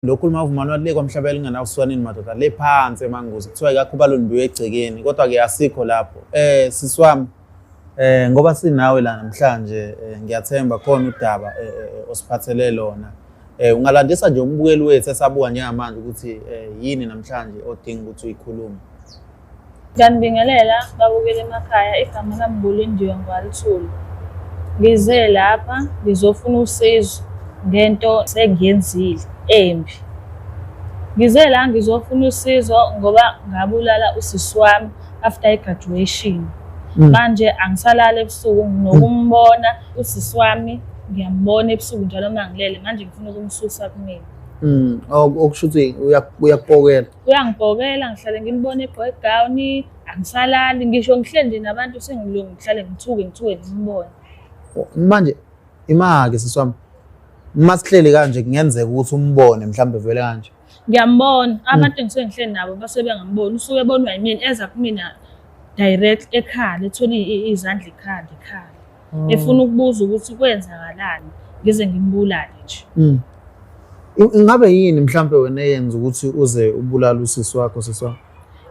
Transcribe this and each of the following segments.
lo khuluma uvumani wathi le kwamhlaba elinganawo swanini madoda le phansi emanguzi kuthiwa ikakhuba lonibiwe egcekeni kodwa-ke asikho lapho um sisi wami um ngoba sinawe la namhlanje um ngiyathemba khona udaba um osiphathele lona um ungalandisa nje umbukeli wethu esabuka njengamanje ukuthi um yini namhlanje odinga ukuthi uyikhulume Ngiyanibingelela babukela emakhaya, igama lami Bulindiwe Ngwalithulu. Ngize lapha ngizofuna usizo ngento sengiyenzile embi. Ngize la ngizofuna usizo ngoba ngabulala usisi wami after i-graduation. Mm. Manje angisalali ebusuku nginokumbona usisi wami ngiyambona ebusuku njalo uma ngilele manje ngifuna ukumsusa kumina. Mm. Okusho ukuthi uyakupokela. Uyangibhokela ngihlale ngimbona egqoke igawuni angisalali ngisho ngihleli nje nabantu sengilungu ngihlale ngithuke ngithuke ngimbone. Manje imake sisi wami uma sihleli kanje kungenzeka ukuthi umbone mhlawumbe vele kanje. Ngiyambona hmm. abantu engisuke ngihleli nabo basuke bengamboni usuke ebonwa yimina eza kumina direct ekhala ethole izandla ekhala ekhala. mm. efuna ukubuza ukuthi kwenzakalani ngize ngimbulale nje mm. ingabe yini mhlampe wena eyenza ukuthi uze ubulale usisi wakho sisi wakho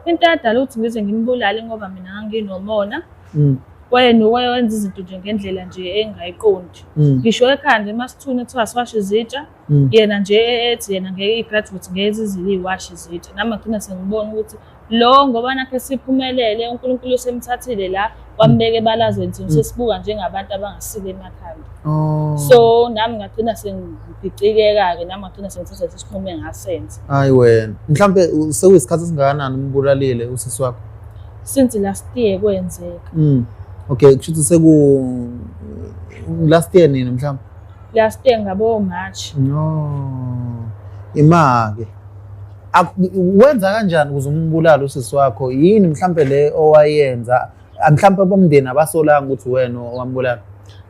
into yadala ukuthi ngize ngimbulale ngoba mina nganginomona mm. wayena wayenza izinto nje ngendlela nje engayiqondi ngisho ekhanda emasithuni kuthiwa siwashe izitsha Mm. yena nje ethi yena ngeke i-graduate ngeke zizile iy'washi zethu nami agcina sengibona ukuthi lo ngoba nakhe siphumelele unkulunkulu usemthathile la wambeka ebalazweni thina mm. sesibuka njengabantu abangasile emakhanda oh. so nami ngagcina sengibhicikeka-ke nami ngagcina sengithatha lesi sinqumo engasenza hayi wena mhlawumbe sekuyisikhathi esingakanani umbulalile usisi wakho since last year kwenzeka mm. okay kusho ukuthi seku last year nini mhlawumbe last year ngabo March no imake wenza kanjani ukuze umbulale usisi wakho yini mhlambe le owayenza mhlambe abomndeni abasolanga ukuthi wena owambulala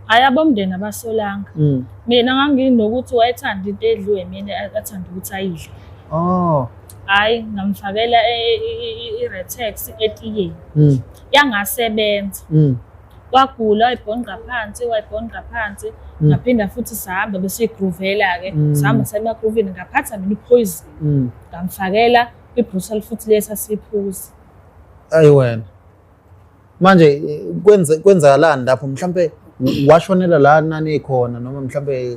hayi abomndeni abasolanga mm. mina nganginokuthi wayethanda into edliwe mina athanda ukuthi ayidle oh hayi ngamfakela e, e, e, i-retex etiyeni mm. yangasebenza mm. wagula wayibhonqa phansi wayibhonqa phansi mm. ngaphinda futhi sihamba besiyigruvela-ke mm. sihamba semagruvini ngaphatha mina iphoyizini mm. ngamfakela ibrutal futhi lesi asiphuzi ayi wena manje kwenzakalani lapho mhlawumpe washonela la nanikhona noma mhlawumpe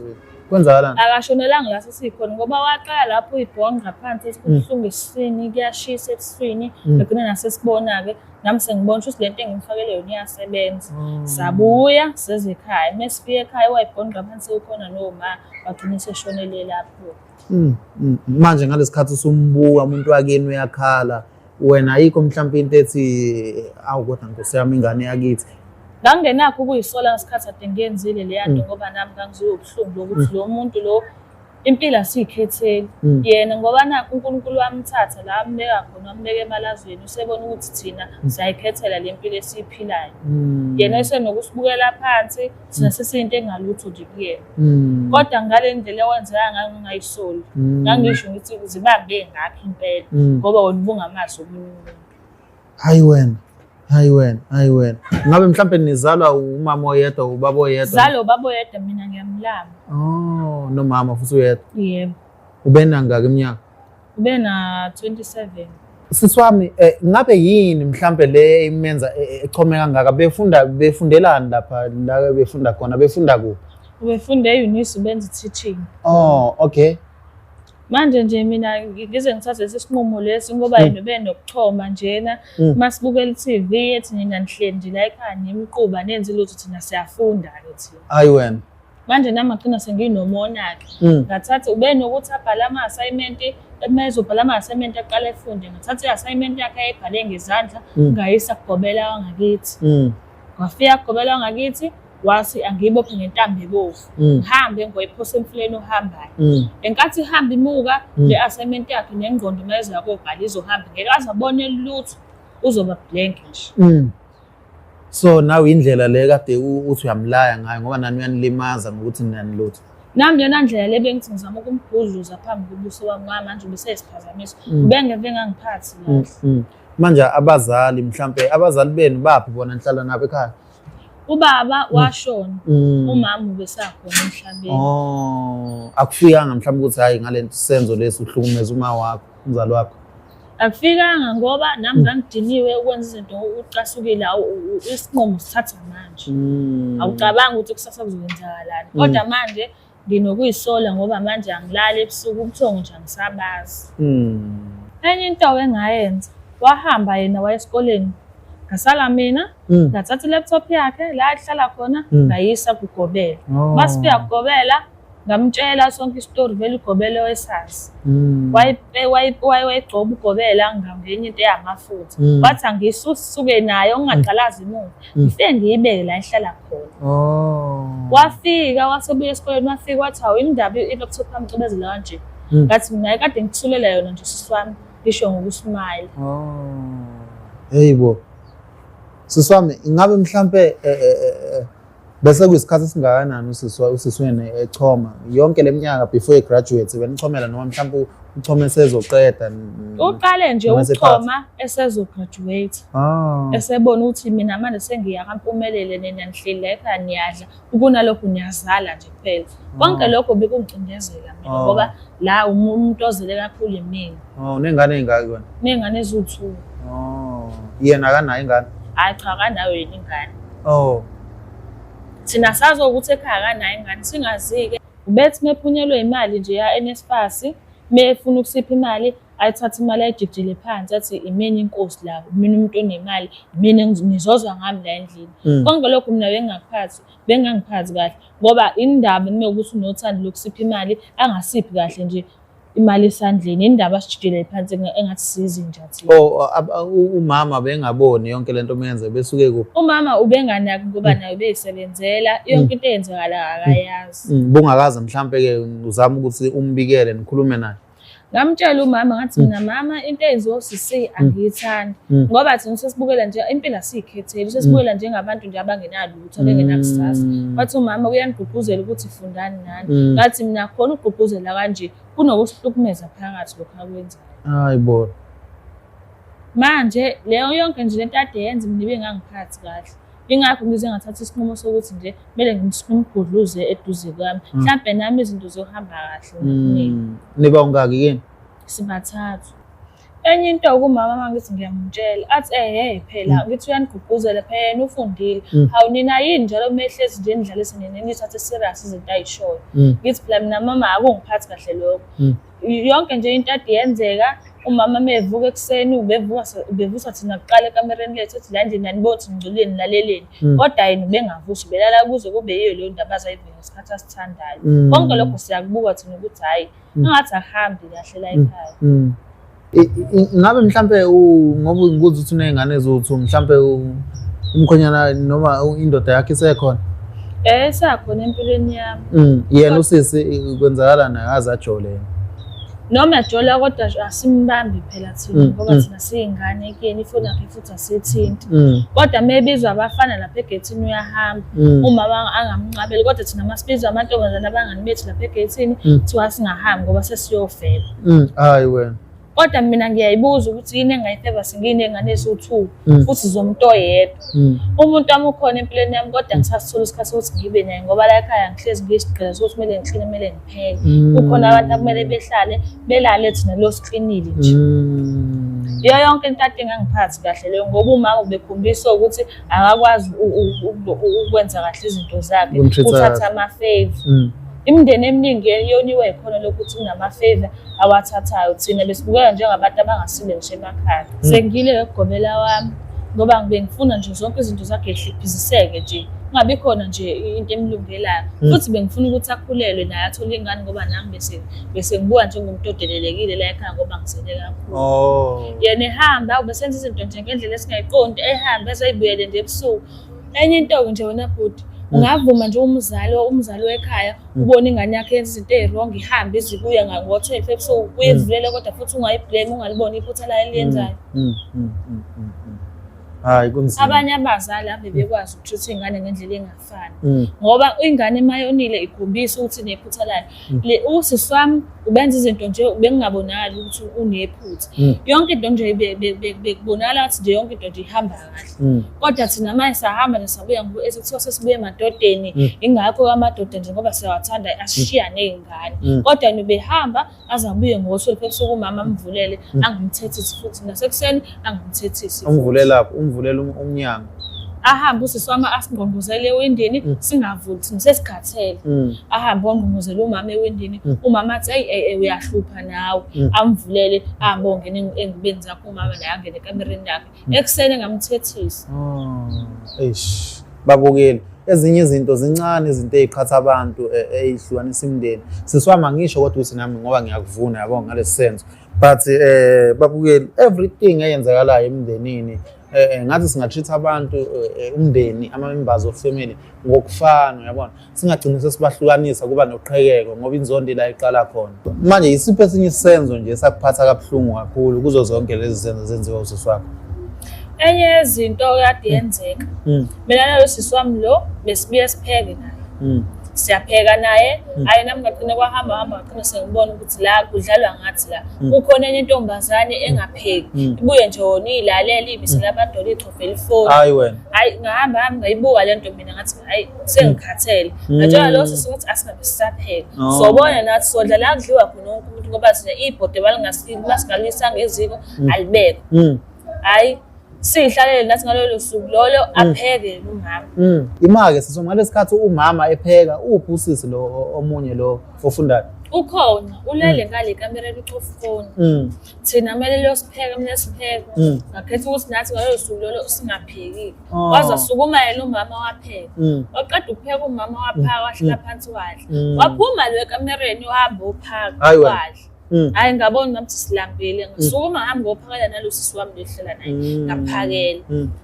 kwenzakalani akashonelanga la sesikhona ngoba waqala lapho uyibhonqa phansi esibuhlungu esiswini kuyashisa ebuswini egcina nasesibona-ke nami sengibona ukuthi lento engimfakele yona iyasebenza mm. sabuya seze ekhaya uma sifike ekhaya wayibhonqa phansi ukhona noma wagcina seshonele lapho mm, mm, manje ngalesi khathi usumbuka umuntu wakini uyakhala wena ayikho mhlawumpe into ethi awu kodwa nkosi yami ingane yakithi ngangingenakho ukuyisola ngesikhathi ade ngiyenzile leya nto ngoba nami ngangizoyobuhlungu lokuthi lo muntu lo Impilo asiyikhetheli mm. yena ngoba na uNkulunkulu wamthatha la ambeka khona wambeka emalazweni usebona ukuthi thina mm. siyayikhethela le mpilo esiyiphilayo mm. yena esenokusibukela phansi thina mm. sesiyinto engalutho nje kuyena mm. kodwa ngale ndlela ewenzeka ngayo ngingayisoli mm. ngangisho ngithi uzibambe ngakho impela mm. ngoba wona ubungamazi omunye umuntu Hayi wena. Hayi wena, hayi wena. Ngabe mhlambe nizalwa umama oyedwa ubaba oyedwa? Zalo baba oyedwa mina ngiyamlama. Oh, nomama futhi uyedwa. Yebo. Ubena ngaka iminyaka? Ubena 27. Sisi wami eh, ngabe yini mhlambe le imenza e, e, echome kangaka befunda befundelani lapha la befunda khona befunda kuphi? Ubefunda e-Unisa ubenza i-teaching. Oh, okay. manje nje mina ngize ngithathe lesi sinqumo lesi ngoba mm. yena ube nokuchoma njena mm. uma sibukela i-tv ethi nina nihleli nje la ekhaya nimquba nenze lutho thina siyafunda-ke thina ayi wena manje nami agcina senginomona-ke mm. ngathatha ube nokuthi abhale ama-assignment uma ezobhala ama-assignment aqala efunde ngathatha i-assignment yakhe ayibhale ngezandla ngayisa kugobela wangakithi wafika kugobela wangakithi wasi angiyibophe ngentambo ebovu mm. ngihambe ngoyiphose emfuleni ohambayo mm. enkathi ihamba imuka mm. le assignment yakhe nengqondo uma ezoya kobhala izohamba ngeke aze abone lutho uzoba blank nje so nawe indlela le kade uthi uyamlaya ngayo ngoba nani uyanilimaza ngokuthi nani lutho nami yona ndlela le bengithi ngizama ukumbhudluza phambi kobuso wami ngoba manje ubeseyisiphazamiso ubengeve engangiphathi manje abazali mhlampe abazali benu baphi bona nihlala nabo ekhaya ubaba mm. washona mm. umama ubesakhona emhlabeni oh akufikanga mhlawumbe ukuthi hayi ngalento senzo lesi uhlukumeza uma wakho umzali wakho akufikanga ngoba nami mm. ngangidiniwe ukwenza izinto ucasukile isinqumo sithatha manje awucabangi ukuthi kusasa kuzoyenzakalani kodwa manje mm. Nginokuyisola ngoba manje angilali ebusuku ubuthongo nje angisabazi. Mm. Enye into awengayenza wahamba yena waya esikoleni ngasala mina mm. ngathatha i-laptop yakhe la ahlala khona mm. ngayisa kugobela oh. masifika kugobela ngamtshela sonke isitori vele ugobele wesazi mm. wayigcoba ugobela ngenye into eyamafutha wathi angiyisuke naye ungaqalazi imuva mm. ngifike ngiyibeke la ihlala khona oh. wafika wasebuya esikoleni wafika wathi hawu indaba i-laptop yami cobezela kanje mm. ngathi mina kade ngithulela yona nje sisi wami ngisho ngokusmayile heyi oh. bo sisi wami ingabe mhlampe e, e, e, bese kuyisikhathi esingakanani usisi wena echoma yonke le minyaka before egraduate benichomela noma mhlawumbe Uchoma esezoqeda. Uqale nje uchoma esezograduate. Ah. Esebona ukuthi mina manje sengiya kampumelele nina nihleli la ekhaya niyadla. Ukunalokho niyazala nje kuphela. Ah. Konke lokho bekungicindezela mina ah. ngoba la umuntu ozele kakhulu yimina. Oh, unengane ezingaki wena? Nengane eziwu-2. Oh. Yena akanayo ingane? Hayi cha akanayo yena ingane. Oh. Thina sazi ukuthi ekhaya akanayo ingane singazi-ke. Ubethi mephunyelwe imali nje ya NSFAS mefuna ukusipha imali ayithathe imali ayijijile phansi athi imini inkosi la mina umuntu onemali mina ngizozwa ngami la endlini mm. konke lokho mina bengingakuphathi bengangiphathi kahle ngoba indaba nime ukuthi unothando lokusipha imali angasiphi kahle nje imali esandleni indaba asijidele phansi engathi sizi nje athi oh umama bengaboni yonke lento umenze besuke kuphi umama ubenganaki ngoba nayo beyisebenzela yonke into eyenzekala akayazi mm, mm, bungakaze mhlambe ke uzama ukuthi umbikele nikhulume naye ngamtshela umama ngathi mm. mina mama into eyenziwa uCC angiyithandi ngoba thina sesibukela nje impilo asiyikhetheli sesibukela njengabantu nje abangenalutho ngithole ngenakusasa mm. wathi umama uyanigqugquzela ukuthi fundani nani mm. ngathi mina khona ukugqugquzela kanje kunokusihlukumeza phakathi lokhu akwenzayo hayi bo manje leyo yonke nje lento ade yenza mina ibe ngangiphathi kahle ingakho ngize ngathatha isinqumo sokuthi nje kumele ngimgudluze eduze kwami mm. mhlawumbe nami izinto zohamba kahle niba ungaki kini sibathathu enye into kumama uma ngithi ngiyamtshela athi ehe phela mm. ngithi uyanigqugquzela phela yena ufundile mm. hawu nina yini njalo mehlezi nje nidlalise nina nithathe serious izinto ayishoyo mm. ngithi phela mina mama akungiphathi kahle lokho yonke nje into ade yenzeka umama mevuka ekuseni ubevuka ubevusa thina kuqala ekamereni lethu ethi la ndini anibothi ngculeni laleleni kodwa yena ubengavusi ubelala kuze kube yiyo leyo ndaba azayivela ngesikhathi asithandayo konke lokho siyakubuka thina ukuthi hhayi Mm. Ungathi ahambi kahle la mm. ekhaya. Mm. Ngabe mhlambe ngoba ngikuza ukuthi unezingane ezothu mhlambe umkhonyana noma indoda yakhe isekhona. Eh sakhona empilweni yami. Mm. Yena usisi kwenzakala naye azajole yena. Noma ejola kodwa asimbambi phela thina ngoba thina siyingane kuyena ifoni yakhe futhi sithinta mm. kodwa mebizwa abafana lapha egethini uyahamba mm. umama angamnqabeli kodwa thina masibizwa amantombazane abangani bethu lapha egethini mm. kuthiwa singahambi ngoba sesiyofela hayi wena kodwa mina ngiyayibuza ukuthi yini engayifeva singine engane esiwu-two futhi zomuntu oyedwa umuntu wami ukhona empilweni yami kodwa ngisasithola isikhathi sokuthi ngibe naye ngoba la ekhaya ngihlezi ngiyisigqila sokuthi kumele ngixhile kumele kuphela mm. kukhona abantu akumele behlale belale thina lo siklinile nje mm. iyo yonke into ade ngangiphathi kahle leyo ngoba umama ubekhombisa ukuthi akakwazi ukwenza kahle izinto zakhe uthatha ama-fave mm. imindeni eminingi yoniwe yikhona lokuthi unama-fave awathathayo thina besibukeka njengabantu abangasile ngisho emakhaya hmm. sengile ngokugobela wami ngoba ngibe ngifuna nje zonke izinto zakhe zihliphisiseke nje kungabi khona nje into emlungelayo hmm. futhi bengifuna ukuthi akhulelwe naye athole ingane ngoba nami bese bese ngibuka njengomuntu odelelekile la ekhaya ngoba ngizele kakhulu oh. yena ehamba ubesenza izinto nje ngendlela esingayiqondi ehamba ezoyibuyele nje ebusuku enye into-ke nje wena bhuti ungavuma nje umzali umzali wekhaya ubona ingane yakhe yenza izinto eziwrong ihambe izibuye ngo-twelve ebusuku mm. uyivulele kodwa futhi ungayiblame ungaliboni iphutha layo eliyenzayo mm, mm, hayi kunzima abanye abazali ave bekwazi ukuthutha ingane ngendlela engafani ngoba ingane mayonile ikhombisa ukuthi nephutha layo usisi wami ubenza izinto nje bekungabonakali ukuthi unephutha mm. yonke into nje bekubonakala ngathi nje yonke into nje ihamba kahle mm. kodwa thina manje sahamba nje sabuya ngoba esekuthiwa sesibuye emadodeni mm. ingakho amadoda nje ngoba siyawathanda ashiya ney'ngane kodwa nibehamba azabuye ngosuku ebusuku umama amvulele angamthethi futhi nasekuseni angimthethisi ungivulela ungivulela um-, umnyango ahambe usisi wami asingqongqozele ewindini mm. singavuli thina sesikhathele mm. ahambe wangqongqozela umama ewindini mm. umama athi eyi eyi eh, uyahlupha nawe amvulele ahambe ongena engibeni zakho umama naye angene ekamereni yakhe ekuseni engamthethisa oh, eish babukeli ezinye izinto zincane izinto eziqhatha abantu ezihlukanisa eh, imndeni siswama ngisho kodwa ukuthi nami ngoba ngiyakuvuna yabo ngalesi senzo but eh babukeli everything eyenzakalayo emndenini eh, eh ngathi singatreat abantu eh, eh, umndeni ama members of family ngokufana uyabona singagcini sesibahlukanisa kuba noqhekeko ngoba inzondo la iqala khona manje isiphi esinye isenzo nje sakuphatha kabuhlungu kakhulu kuzo zonke lezi zenzo zenziwa usisi wakho enye yezinto kade yenzeka mm. mina nalo sisi wami lo besibuye sipheke naye mm. siyapheka naye mm. ayi nami ngagcine kwahamba hamba ngagcine sengibona ukuthi ngathi la kudlalwa ngathi la mm. kukhona enye intombazane mm. engapheki mm. ibuye nje wona iyilalela ibisela abantu wona ichofe elifoni hayi wena hayi ngahamba hamba ngayibuka le nto mina ngathi hayi sengikhathele ngatshela lo sisi ukuthi asingabe sisapheka oh. sobona nathi sodla la kudliwa khona wonke umuntu ngoba sine ibhode balingasingasingalisanga eziko alibekho hayi siyihlalele nathi ngalolo suku lolo mm. apheke yena umama mm. ima-ke siso ngalesi khathi umama epheka uphi usisi lo omunye lo ofundayo ukhona ulele mm. ngale kamereni ucofoni thina kumele liyosipheka mina sipheka ngakhetha ukuthi nathi ngalolo suku lolo singaphekile oh. waze asukuma yena umama wapheka waqeda ukupheka umama waphaka wahlala phansi wadla waphuma lo ekamereni wahamba ophaka wadla Mm. hayi ngabona ngathi silambile mm. ngisuke uma ngihambe ngophakela nalosi siwami ndohlela naye mm. ngaphakela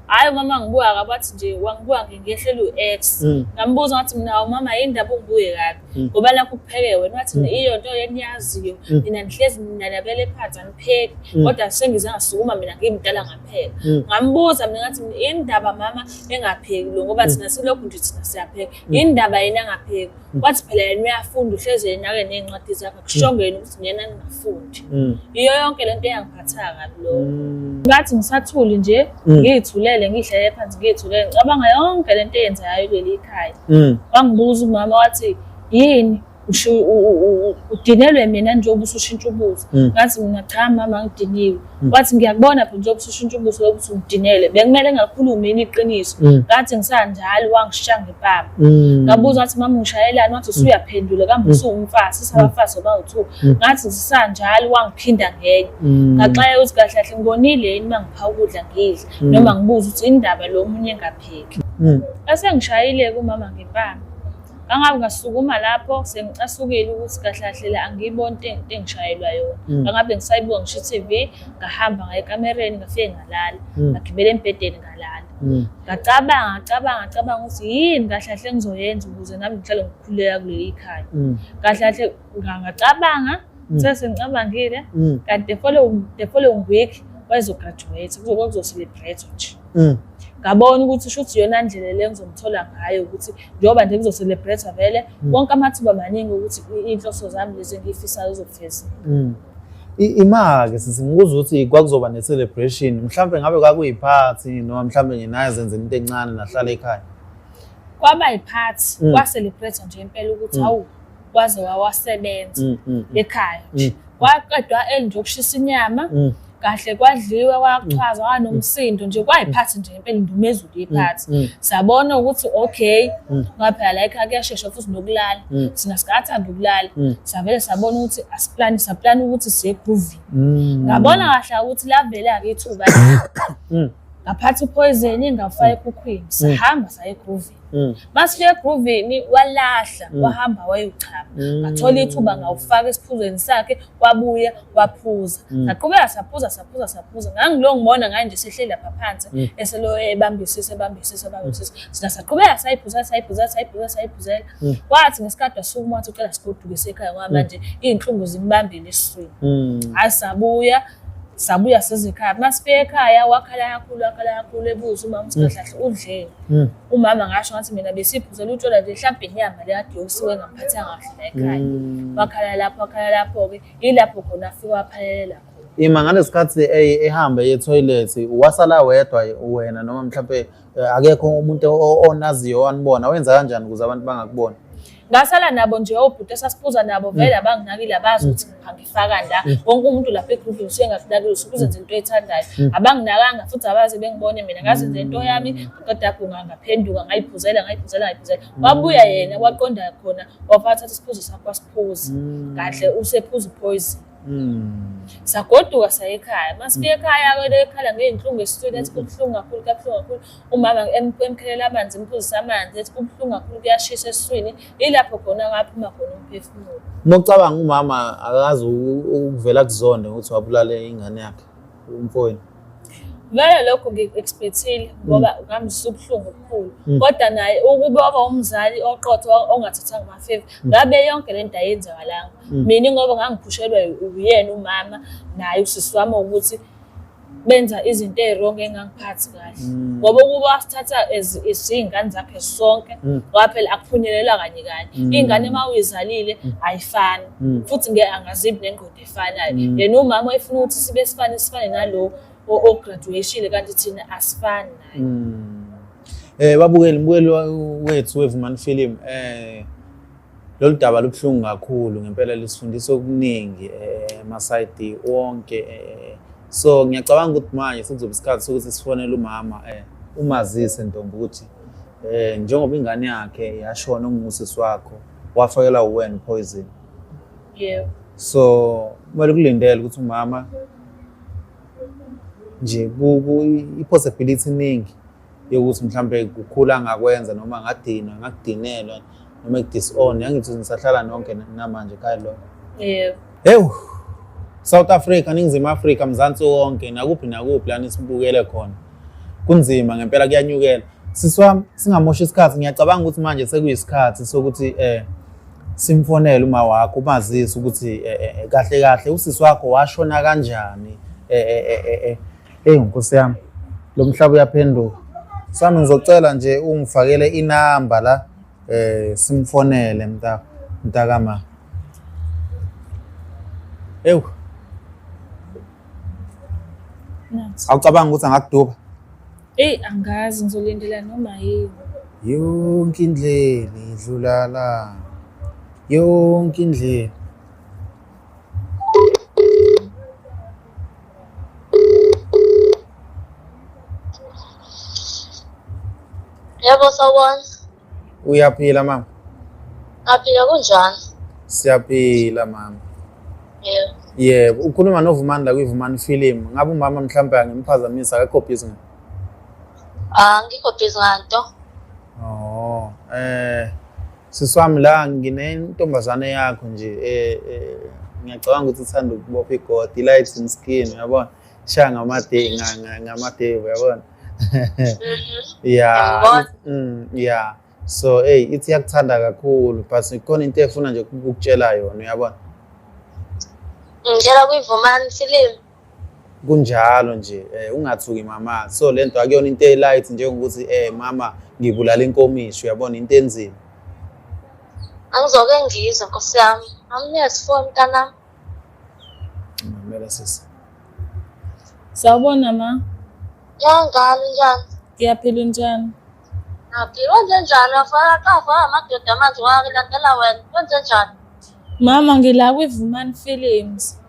hayi umama ngibuka kabathi nje wangibuka ngingehlela u-ex ngambuza ngathi mina umama yini ndaba ungibuye kabi ngoba nakho kupheke wena wathi iyo nto yeniyaziyo mina ngihlezi ninanabele phansi angipheki kodwa sengize ngasukuma mina ngimdala ngaphela ngambuza mina ngathi yini ndaba mama engapheki lo ngoba thina silokhu nje thina siyapheka yini ndaba yena angapheki wathi phela yena uyafunda uhlezi yena ake ney'ncwadi zakhe kushongeni ukuthi ngiyena ningafundi mm. yiyo yonke le nto eyangiphathayo kabi lo mm. ngathi ngisathuli nje mm. ngiyithulele ngihlele phansi ngiyithulele ngicabanga yonke le nto eyenzekayo kuleli khaya wangibuza umama wathi yini udinelwe mina njengoba usushintsha ubuza ngathi mina cha mama ngidiniwe Mm. wathi ngiyakubona phela njengoba usushintsha ubuso lokuthi udinele bekumele ngakhulumi yini iqiniso mm. ngathi ngisanjalo wangishiya ngepapa mm. ngabuza wathi mama ngishayelani wathi usuyaphendula kambe usuwumfazi sisabafazi obawu-two ngathi ngisanjalo wangiphinda ngenye ngaxaya ukuthi kahle kahle ngikonile yini uma ngipha ukudla ngidle noma ngibuza ukuthi indaba lo omunye engapheki esengishayile kumama ngepama Ngangabe ngasukuma lapho sengicasukile ukuthi kahle kahle la angiyiboni into eng- into engishayelwa yona. Mm. Ngangabe ngisayibuka ngisho i-TV, ngahamba ngaya ekamereni ngafike ngalala. Mm. Ngagibela embhedeni ngalala. Mm. Ngacabanga, ngacabanga, ngacabanga ukuthi yini kahle kahle engizoyenza ukuze nami ngihlale ngikhululeka kuleli khaya. Mm. Kahle kahle nga- ngacabanga mm. sase ngicabangile mm. kanti the following the following week wayezograduate kuzokuzocelebrate nje mm. ngabona ukuthi shuthi yona ndlela le ngizomthola ngayo ukuthi njengoba nje ngizocelebrate vele mm. wonke amathuba maningi ukuthi inhloso zami lezi engiyifisayo zizofeza mm. imake sisi ngikuza ukuthi kwakuzoba ne-celebration mhlawumbe ngabe kwakuyiphathi noma mhlawumbe nginaye zenze into encane nahlala ekhaya kwaba yiphathi mm. kwaselebrate nje impela ukuthi hawu mm. waze wawasebenza mm, mm, mm. ekhaya nje kwaqedwa eli nje ukushisa inyama kahle kwadliwa kwachaza kwanomsindo nje kwayiphathi nje impela indumezulu iphathi sabona ukuthi okay ngaphela la ekhaya kuyashesha futhi nokulala sina sikathanda ukulala savele sabona ukuthi asiplani saplani ukuthi siye groovy ngabona kahle ukuthi lavele akithuba ngaphatha upoison ngafaka ekhukhwini sihamba saye groovy Mm. Masifika egroovini walahla mm. wahamba wayochama. Mm. Ngathola ithuba ngawufaka esiphuzweni sakhe wabuya waphuza. Saqhubeka saphuza saphuza saphuza. Ngangilo ngibona ngani nje sehleli lapha phansi eselo ebambisisa ebambisisa ebambisisa. Sina saqhubeka sayiphuza sayiphuza sayiphuza sayiphuza. Kwathi ngesikade wasukuma wathi ucela sigoduke sekhaya ngoba manje izinhlungu zimbambile esiswini. Hayi sabuya sabuya sezekhaya masifika ekhaya wakhala kakhulu wakhala kakhulu ebuza umama usikadlahle mm. udleni mm. umama ngasho ngathi mina besiphuzela utshwala nje mhlawumbe inyama le kade yokusuke ngaphathanga kahle la ekhaya mm. wakhala lapho wakhala lapho-ke yilapho khona afike waphalela khona ima ngalesikhathi ehamba ye-toilet wasala wedwa wena noma mhlawumbe Eh, akekho umuntu onaziyo wanibona wenza kanjani ukuze abantu bangakubona ngasala nabo nje obhuti esasibuza nabo mm. vele abanginakile abazi mm. ukuthi ngangifaka la mm. wonke umuntu lapha egroupini usengakunakile usuke uzenza into ethandayo abanginakanga futhi abaze bengibone mina ngazenza into yami qeda kunga ngaphenduka ngayiphuzela ngayiphuzela ngayiphuzela wabuya yena waqonda khona wafathatha isiphuzo sakho wasiphuza kahle usephuza uphoyizini Mm. sagoduka saya ekhaya uma sifika ekhaya kwele ekhala ngey'nhlungu esiswini ethi kubuhlungu kakhulu kabuhlungu kakhulu umama emkhelela amanzi emphuzisa amanzi ethi kubuhlungu kakhulu kuyashisa esiswini yilapho khona kwaphuma khona umphefumulo uma ucabanga umama akazi ukuvela kuzonde ukuthi wabulale ingane yakhe umfowenu vele lokho ngiku-expectile ngoba mm. ngangizwa ubuhlungu obukhulu mm. kodwa naye ukube waba umzali oqotho ongathathanga amafeva mm. ngabe yonke le nto ayenzakalanga mina ngoba ngangiphushelwa uyena umama naye usisi wami ukuthi benza izinto ezirongo engangiphathi kahle ngoba ukuba wasithatha izingane zakhe sonke ngoba phela akuphunyelelwa kanye kanye iy'ngane uma uyizalile ayifani futhi ngeke angazibi nengqondo esifanayo mm. yena umama efuna ukuthi sibe sifane sifane nalo ograduatile kanti thina asifani naye mm. eh babukeli mbukeli wethu wevumani film eh lolu daba lubuhlungu kakhulu ngempela lisifundisa okuningi eh masayidi wonke eh so ngiyacabanga ukuthi manje sizobe isikhathi sokuthi sifonele umama eh umazise ntombi ukuthi eh njengoba ingane yakhe yashona ungusisi wakho wafakelwa uwen poison yebo so kumele kulindele ukuthi umama nje i-possibility iningi yokuthi mhlawumbe kukhula angakwenza noma angadinwa angakudinelwa noma i-disown yangithi nisahlala nonke namanje khaya lo yebo hewu South Africa ningizimu Afrika mzansi wonke nakuphi nakuphi lana sibukele khona kunzima ngempela kuyanyukela siswami singamosha isikhathi ngiyacabanga ukuthi manje sekuyisikhathi sokuthi eh simfonele uma wakho umazise ukuthi eh, eh, eh, kahle kahle usisi wakho washona kanjani eyi nkosi yami lo mhlaba uyaphenduka sami ngizocela nje ungifakele inamba la um simfonele mntakama ewu awucabanga ukuthi angakuduba Eyi angazi ngizolindela noma yini. Yonke indlela idlula la. Yonke indlela. Yebo sawubona. Uyaphila mama? Aphila kunjani? Siyaphila mama. Yebo. Yebo, ukhuluma noVumani la kwiVumani Film. Ngabe umama mhlawumbe angimphazamisa akekho busy ngani? Ah, ngikho busy nganto. Oh, eh siswami la nginentombazane yakho nje eh, eh ngiyacabanga ukuthi uthanda ukubopha igodi lights in skin yabona shaya ngamadevu yabona Mm-hmm. yeah mm, yeah so hey ithi yakuthanda kakhulu but ikhona into efuna nje ukukutshela yona uyabona ngitshela kuyivumani film kunjalo nje eh ungathuki mama so lento akuyona into elight njengokuthi eh mama ngibulala inkomishi uyabona into enzima angizoke ngizwe nkosi yami amniyasifoni kanami Ngimamela sisi. Sawubona ma. Yanjani njani? Ngiyaphila unjani? Ngaphi wenze njani? Afaka kafa amadoda manje wakilandela wena. Wenze njani? Mama ngila kwiVumani Films.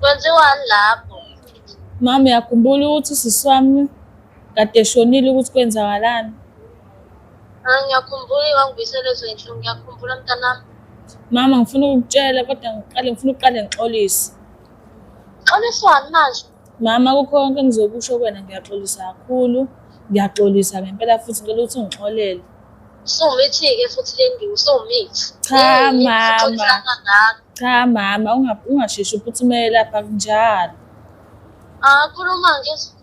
Kwenziwani lapho? Mama uyakhumbula ukuthi usisi wami kade eshonile ukuthi kwenzakalani? Ah, ngiyakhumbula iwangibuyisela ezwe nje ngiyakhumbula mntanami mama ngifuna ukukutshela kodwa ngiqale ngifuna ukuqale ngixolise xoliswani manje mama kukho konke engizokusho kwena ngiyaxolisa kakhulu ngiyaxolisa ngempela futhi ngicela ukuthi ungixolele usumithi-ke futhi le ndima usumithi cha mama cha mama ungasheshi uphuthumele lapha kunjalo ah khuluma ngezulu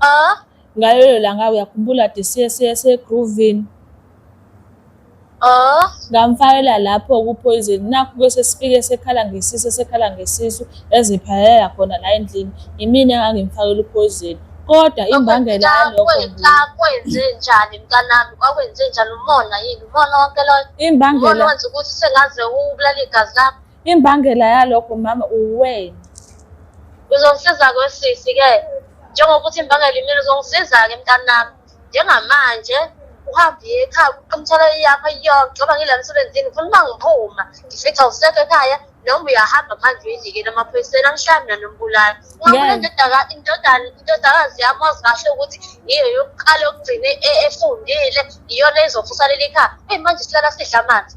Ah, ngalelo langa uyakhumbula de siye siye segroovini Ah, ngamfakela lapho kupoison nakho bese sifike sekhala ngesisu sekhala ngesisu eziphalela khona la endlini imina engangimfakela upoison kodwa imbangela yalokho kwenza- kwenze njani mntanami kwakwenze njani umona yini umona wonke loyo umona Imbangela wenza ukuthi sengaze ubulale igazi lakho Imbangela yalokho mama uwena. Uzongisiza kwesisi ke njengokuthi imbangela imina uzongisiza ke mntanami njengamanje uhambe ekhaya uqomthela yakho yonke ngoba ngile msebenzini ngifuna uma ngiphuma ngifica usekho ekhaya noma uyahamba manje uyidlikele amaphoyiseni angihlami nanombulali ungabona indodana indodakazi yami wazi kahle ukuthi yiyo yokuqala yokugcina e-, efundile iyona ezofusalela ikhaya eyi manje silala sidla amanzi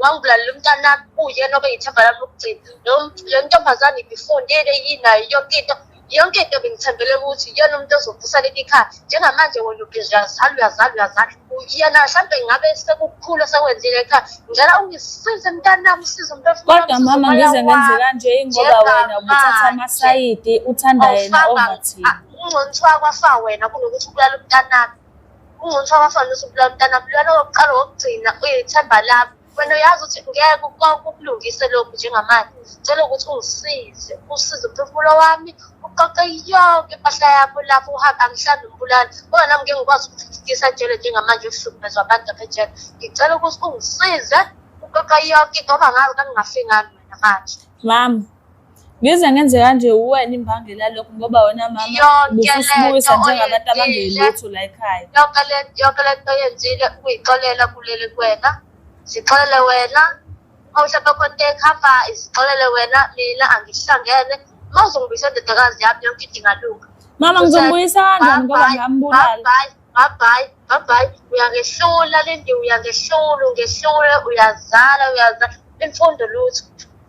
wangibulalela umntanami uyena obeyithemba lami lokugcina le ntombazane ibifundile yinayo yonke into yonke into bengithembele ukuthi iyona umuntu ozovusa leli khaya njengamanje wena uyazala uyazala uyazala yena mhlawumbe ngabe sekukhulu sekwenzile ekhaya ngicela ungisize mntanami usize umntokodwa mama ngize ngenze kanje ingoba wena ubuthatha amasayidi uthanda yena ovathini ungcono kuthiwa kwafa wena kunokuthi ubulala umntanami ungcono abafana usubulala umntana bulala wokuqala wokugcina uyithemba lami wena uyazi ukuthi ngeke ukulungise lokhu njengamanje cela ukuthi ungisize usize umphefumulo wami uqoqe yonke impahla yakho lapho uhambe angihlali umbulali ngoba nami ngeke ngikwazi ukuthuthukisa njele njengamanje uhlukumezwa abantu apha ejele ngicela ukuthi ungisize uqoqe yonke into ngoba ngazi kangingafingani wena manje mama Ngize ngenze kanje uwena imbangela lokhu ngoba wena mama ubusibuyisa njengabantu abangelutho la ekhaya. Yonke le yonke le nto yenzile ukuyixolela kuleli kwena. Sixolele wena. Mawuhlaba konke ekhava isixolele wena mina angihlangene. Mawuzongibuyisa indodakazi yami yonke idingalunga. Mama ngizombuyisa kanjani ngoba ngambulala. bye bye bye uyangehlula lendi uyangehlula ungehlula uyazala uyazala imfundo lutho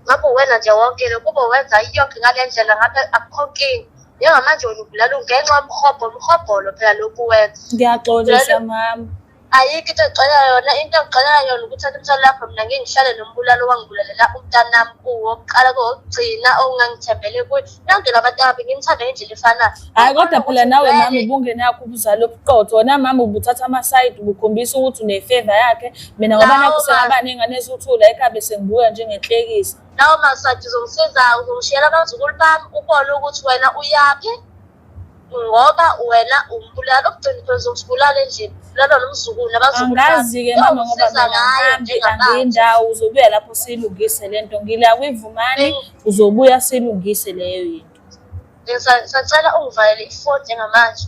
ngabe uwena nje wonke lo kube wenza iyonke ngale ndlela ngabe akukho nkinga njengamanje wena ubulala ungenxa yomhobho umhobholo phela lokhu wenza ngiyaxolisa mama ayikho into egxolela yona into egxolela yona ukuthatha umthwalo lapho mina ngingihlale nombulalo wangibulalela umntanami kuwo kuqala kowokugcina ongangithembele kuye Nangena abatabi ngimthanda ngendlela efanayo. Hayi kodwa phela nawe mama ubungene yakho ubuzalo obuqotho. Wena mama ubuthatha ama side ubukhombisa ukuthi une favor yakhe. Mina ngoba Nawe nakho sengaba nengane ezothula ekabe sengibuya njengenhlekisa. Nawe masadi uzongisiza uzongishiyela abazukulu bami ubone ukuthi wena uyaphi. ngoba wena umbulala okugcina phela uzokubulala endlini bulala nomzukulu angazi-ke mama ngoba ngahambi angiyindawo uzobuya lapho siyilungise le nto ngila kwivumane uzobuya siyilungise leyo yinto sacela ungivalele ifoni njengamanje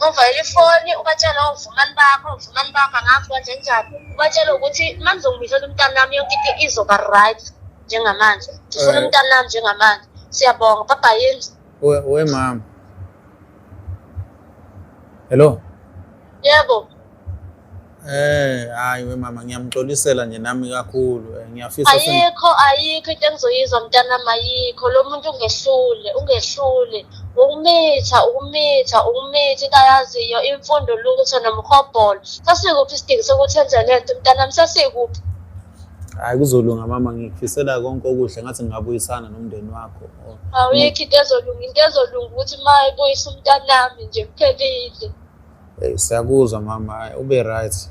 uvayela ifoni ubatshela ovumani bakho ovumani bakho angazi kanje njani ubatshela ukuthi uma ngizongibizela umntanami yonke into izoba right njengamanje ndifuna eh. umntanami njengamanje siyabonga baba yenzi we, we mama hello yebo Eh hayi we mama ngiyamxolisela nje nami kakhulu eh, ngiyafisa ayikho ayikho into engizoyizwa mntana mayikho lo muntu ungehlule ungehlule ukumitha ukumitha ukumitha into ayaziyo imfundo lutho nomhobholo sasikuphi isidingo sokuthi enze le nto mntanami sasikuphi hayi kuzolunga mama ngikufisela konke okuhle ngathi ngingabuyisana nomndeni wakho awuyikho into ezolunga into ezolunga ukuthi ma ibuyisa umntanami nje kuphelile Hey, siyakuzwa mama hayi ube right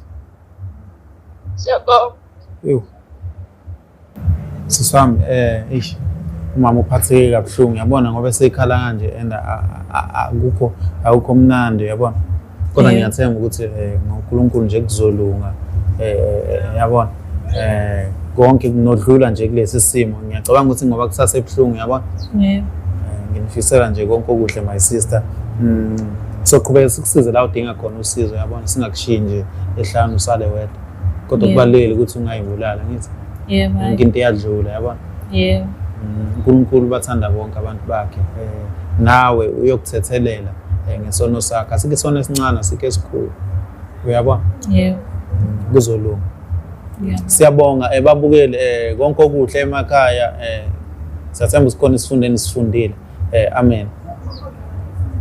siyabonga Ewu. Sisi wami eh eish umama uphatheke kabuhlungu yabona ngoba esekhala kanje and a- a- a- akukho akukho mnandi yabona kodwa ngiyathemba ukuthi um ngonkulunkulu nje kuzolunga um yabona um konke kunodlula nje kulesi simo ngiyacabanga ukuthi ngoba kusase ebuhlungu yabona eh, nginifisela nje konke okuhle my sister mm, soqhubeka sikusize la udinga khona usizo yabona singakushiyi nje ehlanu usale wedwa kodwa kubalulekile ukuthi ungayibulala ngithi yebo yonke into iyadlula yabona yebo mm, uNkulunkulu bathanda bonke abantu bakhe eh, nawe uyokuthethelela eh, ngesono sakhe asike isona esincane asike esikhulu uyabona yebo mm, kuzolunga siyabonga eh, babukeli eh, konke okuhle emakhaya eh, siyathemba sikhona isifundeni sifundile eh, amen